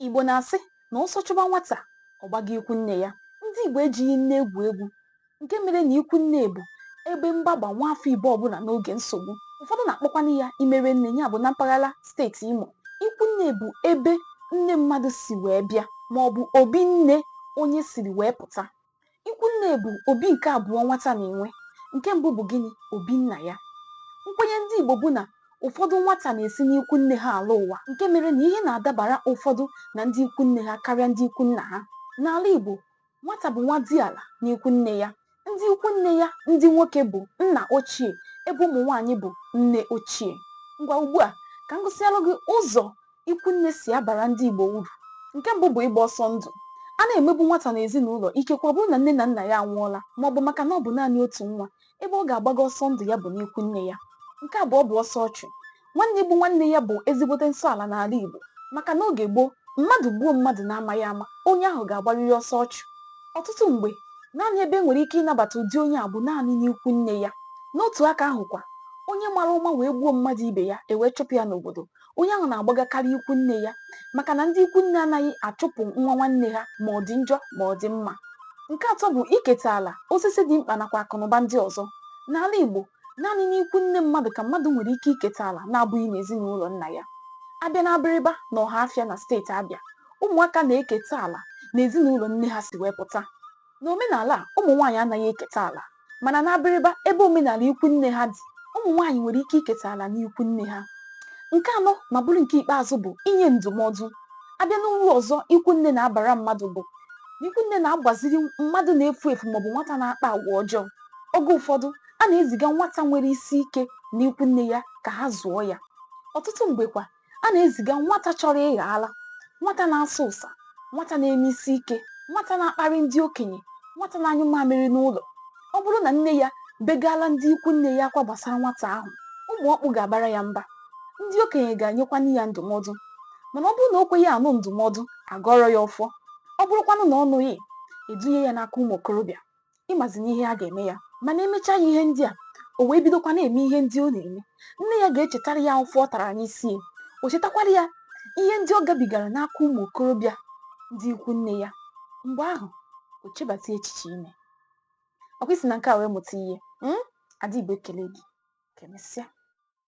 Igbo na-asị na ọsọ chụba nwata, ọ gbaga ikwu nne ya. Ndị Igbo ejighị nne egwu egwu nke mere na ikwu nne bụ ebe mgbaba nwaafọ Igbo ọbụla n'oge nsogbu. Ụfọdụ na-akpọkwanụ ya imere nne ya bụ na mpaghara steeti Imo. Ikwu nne bụ ebe nne mmadụ si wee bịa maọbụ obi nne onye siri wee pụta. Ikwu nne bụ obi nke abụọ nwata na-enwe. Nke mbụ bụ gịnị? Obi nna ya. Nkwenye ndị Igbo bụ na ụfọdụ nwata na-esi n'ikwu nne ha alọ ụwa nke mere na ihe na-adabara ụfọdụ na ndị ikwu nne ha karịa ndị ikwu nna ha. N'ala Igbo, nwata bụ nwadiala n'ikwu nne ya. Ndị ikwu nne ya ndị nwoke bụ nna ochie ebe ụmụ nwaanyị bụ nne ochie. Ngwa ugbu a, ka m gụsịalụ gị ụzọ ikwu nne si abara ndị Igbo uru. Nke mbụ bụ ịgba ọsọ ndụ. A na-emegbu nwata n'ezinụlọ, ikekwe ọ bụrụ na nne na nna ya anwụọla maọbụ maka na ọ bụ naanị otu nwa. Ebe ọ ga-agbaga ọsọ ndụ ya bụ n'ikwu nne ya. Nke abụọ bụ ọsọ ọchụ. Nwanne igbu nwanne ya bụ ezigbote nsọ ala n'ala Igbo maka n'oge gboo, mmadụ gbuo mmadụ n'amaghị ama, onye ahụ ga-agbarịrị ọsọ ọchụ. Ọtụtụ mgbe, naanị ebe e nwere ike ịnabata ụdị onye a bụ naanị n'ikwu nne ya. N'otu aka ahụkwa, onye mara ụma wee gbuo mmadụ ibe ya, e wee chụpụ ya n'obodo, onye ahụ na-agbagakarị ikwu nne ya maka na ndị ikwu nne anaghị achụpụ nwa nwanne ha ma ọ dị njọ ma ọ dị mma nke atọ bụ iketa ala osisi dị mkpa nakwa akụnụba ndị ọzọ n'ala Igbo naanị n'ikwu nne mmadụ ka mmadụ nwere ike iketa ala na-abụghị n'ezinụlọ nna ya a bịa na Abịrịba na Ọhafịa na steeti Abịa ụmụaka na-eketa ala n'ezinụlọ nne ha si wee pụta N'omenala, ụmụ nwaanyị anaghị eketa ala. Mana n'Abịrịba, ebe omenala ikwu nne ha dị, ụmụ nwaanyị nwere ike iketa ala n'ikwu nne ha. Nke anọ ma bụrụ nke ikpeazụ bụ inye ndụmọdụ. A bịa n'uru ọzọ ikwu nne na-abara mmadụ bụ na ikwu nne na-agbaziri mmadụ na-efu efu maọbụ nwata na-akpa agwa ọjọọ. Oge ụfọdụ, a na-eziga nwata nwere isi ike n'ikwu nne ya ka ha zụọ ya. Ọtụtụ mgbe kwa, a na-eziga nwata chọrọ ịghọ ala nwata na-asa ụsa nwata na-eme isi ike nwata na-akparị ndị okenye nwata na-anyụ mamịrị n'ụlọ ọ bụrụ na nne ya begaala ndị ikwu nne ya akwa gbasara nwata ahụ ụmụ ọkpụ ga-abara ya mba ndị okenye ga-enyekwanụ ya ndụmọdụ mana ọ bụrụ na o kweghị anụ ndụmọdụ a gọọrọ ya ọfọ ọ bụrụkwanụ na ọ nụghị e dunye ya n'aka ụmụ okorobịa ị mazinụ ihe a ga-eme ya mana e mechaa ya ihe ndị a o wee bidokwa na-eme ihe ndị ọ na-eme nne ya ga-echetara ya ụfụ ọ tara n'isi ya o chetakwara ya ihe ndị ọ gabigara n'aka ụmụ okorobịa ndị ikwu nne ya mgbe ahụ o chebata echiche ime ọ kwa i si na nke a wee mụta ihe mm? Ada Igbo ekelee gị ka e mesịa